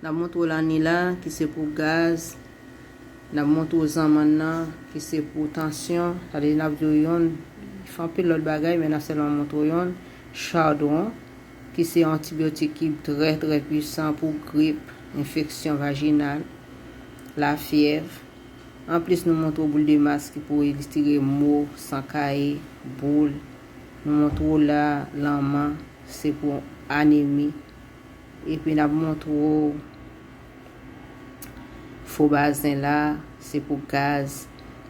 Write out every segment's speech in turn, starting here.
Nap montre w lani la ki se pou gaz, nap montre w zanmann nan ki se pou tansyon, sa vle di nap di w yon, fè anpil lòt bagay men nap sèlman montre w yon, chardon ki se yon antibyotik ki trè trè pwisan pou grip, enfeksyon vajinal, lafyèv. Anplis nou montre w boule de mask ki pou elstire mo, san kaye, boule. Nou montre w la, lanman, se pou anemi, Epi nap montre w fo bazen la se pou gaz.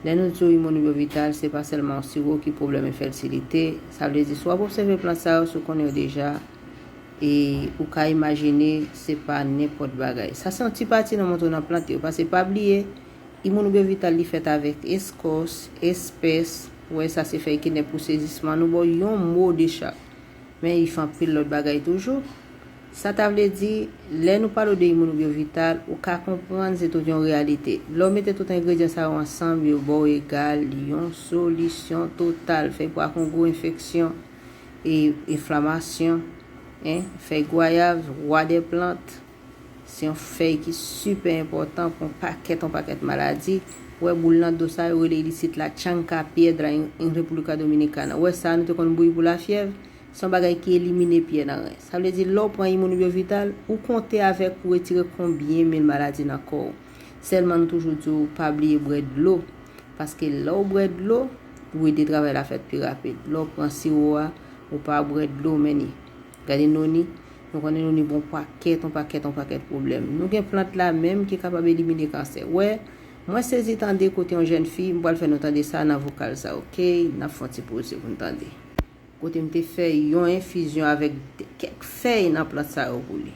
Lè nou di w imonibovital se pa sèlman yon siwo ki pwoblèm enfètilite. Sa vle di si w ap obsève plant sa yo si w konnen yo deja e ou ka imajine se pa nenpòt bagay. Sa se yon ti pati nan montre w nan plant yo pase pa bliye imonibovital li fèt avèk eskòs, espès, wè sa se fèy kenèp pou sezisman nou ba w yon mo de chak. Men if anpil lòt bagay toujou. Sa ta vle di, lè nou pale w de imonobyo vital, ou ka konprann se tout yon reyalite. Lè w mete tout engredyan sa yo ansanm, yo ba w egal yon solisyon total, fèy pwa kongo enfeksyon e enflamasyon, fèy gwayav, rwa dè plant. Se yon fèy ki sipè enpòtan pou yon pakèt yon pakèt maladi. Wè boul nan do sa yo rele li isit la chanca piedra en República Dominicana. Wè sa a nou te konn bouyi pou lafyèv. Se yon bagay ki elimine pyè nan ren. Sa vle di lè w pran Immunibio Vital, ou konte avèk pou retire konbyen mil maladi nan kò w. Sèlman nou toujou di w pa bliye bwè dlo. Paske lè w bwè dlo, ou ede travay la fèt pi rapid. Lè w pran siwo a, ou pa bwè dlo men ni. Gade Noni, nou konnen Noni bon pakèt, on pakèt, on pakèt pwoblèm. Nou gen plant la menm ki kapab elimine kansè. Wè, mwen sezi tande kote yon jèn fi, m pral fè nou tande sa nan vokal sa ok, n ap fè yon ti poze pou n tande. Kote m te fè yon enfizyon avèk kèk fèy nan plant sa yo pou li.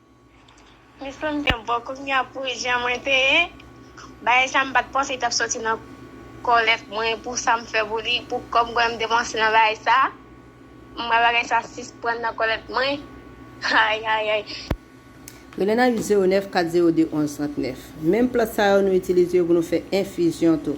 Mwen sanm gen bò kounya pou jan mwen te ye bagay sa m pat panse li tap soti nan kòlèt mwen pou sam fè pou li pou kòm konnen m depanse nan bagay sa m wè bagay sa sisprann nan kòlèt mwen ayayay. Rele nan 8 09 402 11 39. Menm plant sa yo nou itilize yo pou nou fè enfizyon tou.